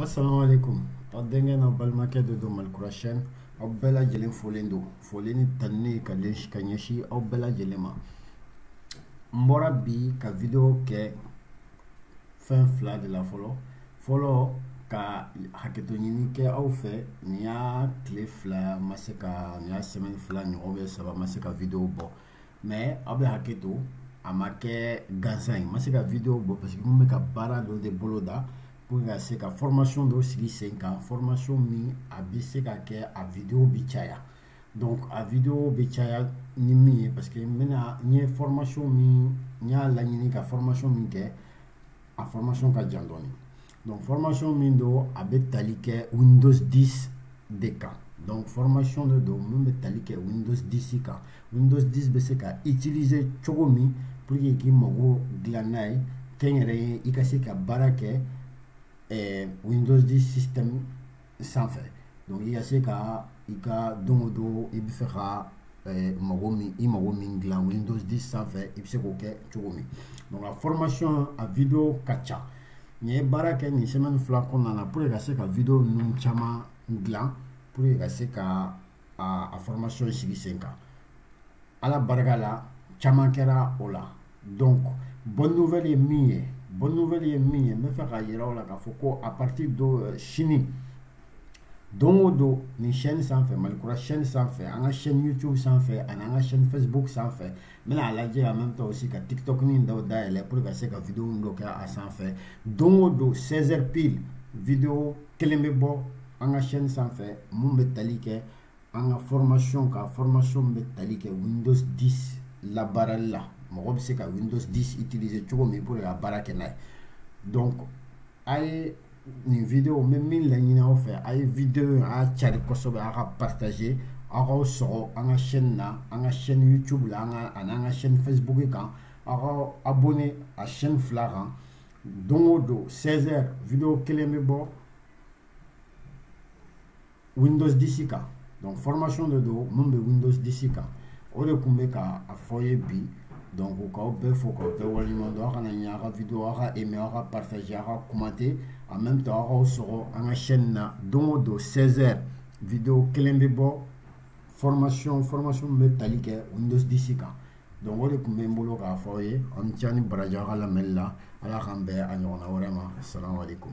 asalaamaaleykum aw denkɛ n'aw balimakɛ de don malikura chaîne aw bɛɛ lajɛlen folen don foli ni tanni ka ɲɛsin ka ɲɛsin aw bɛɛ lajɛlen ma n bɔra bi ka video kɛ fɛn fila de la fɔlɔ fɔlɔ ka hakɛto ɲini kɛ aw fɛ nin y'a tile fila ma se ka nin y'a semaine fila ɲɔgɔn bɛ saba ma se ka video bɔ mais aw bɛ hakɛto a ma kɛ gansan ye ma se ka video bɔ parce que n bɛ ka baara dɔ de boloda pour ka se ka formation dɔ sigi sen kan formation min a bɛ se ka kɛ a video bɛ caya donc a video bɛ caya ni min ye parce que n bɛna n ye formation min n y'a laɲini ka formation min kɛ a formation ka jan dɔɔnin donc formation min don a bɛ tali kɛ windows 10 de kan donc formation de don min bɛ tali kɛ windows 10 kan windows 10 bɛ se ka utiliser cogo min pour que k'i mago dilan n'a ye kɛnyɛrɛye i ka se ka baara kɛ eh, windows 10 système sanfɛ donc i ka se ka i ka don o don i bɛ fɛ ka eh, mago min i mago min dilan windows 10 sanfɛ i bɛ se k'o kɛ cogo min donc a formation a video ka ca n ye baara kɛ nin semaine fila kɔnɔna na pour que ka se ka video ninnu caman dilan pour que ka se ka a a formation sigi sen kan ala barika la caman kɛra o la donc bonne nouvelle ye min ye bonne nouvelle ye min ye n bɛ fɛ k'a yira aw la k'a fɔ ko à partir de euh, sini don o don nin chaîne sanfɛ malikura chaîne sanfɛ an ka chaîne youtube sanfɛ ani an ka chaîne facebook sanfɛ n bɛna a lajɛ en même temps aussi ka tiktok ni dɔw dayɛlɛ pour ka se ka video dɔ kɛ a sanfɛ don o don 16 heures pile video kelen bɛ bɔ an ka chaîne sanfɛ min bɛ tali kɛ an ka formation kan formation bɛ tali kɛ windows 10 labaarali la mɔgɔ bɛ se ka windows 10 utiliser cogo min pour que ka baara kɛ n'a ye donc a ye nin video n bɛ min laɲini aw fɛ a ye video in a y'a cari kosɛbɛ aw k'a partager aw k'aw sɔgɔ an ka chaîne na an ka chaîne youtube la an ka ani an ka chaîne facebook kan aw ka abonné a chaîne fila kan don o don 16 heures video kelen bɛ bɔ windows 10 kan donc formation de don min bɛ windows 10 kan o de tun bɛ k'a fɔ aw ye bi donc k'aw bɛɛ fo k'aw bɛɛ waleɲuman dɔn aw kana ɲinɛ aw ka video aw k'a aimer aw k'a partager aw k'a commenter en même temps aw k'aw sɔgɔ an ka chaîne na don o don 16 heures video kelen bɛ bɔ formation formation min bɛ tali kɛ windows 10 kan donc o de tun bɛ n bolo k'a fɔ aw ye aw ni ce aw ni baraji aw ka lamɛnni la ala k'an bɛn a ɲɔgɔnna wɛrɛ ma salamu aleykum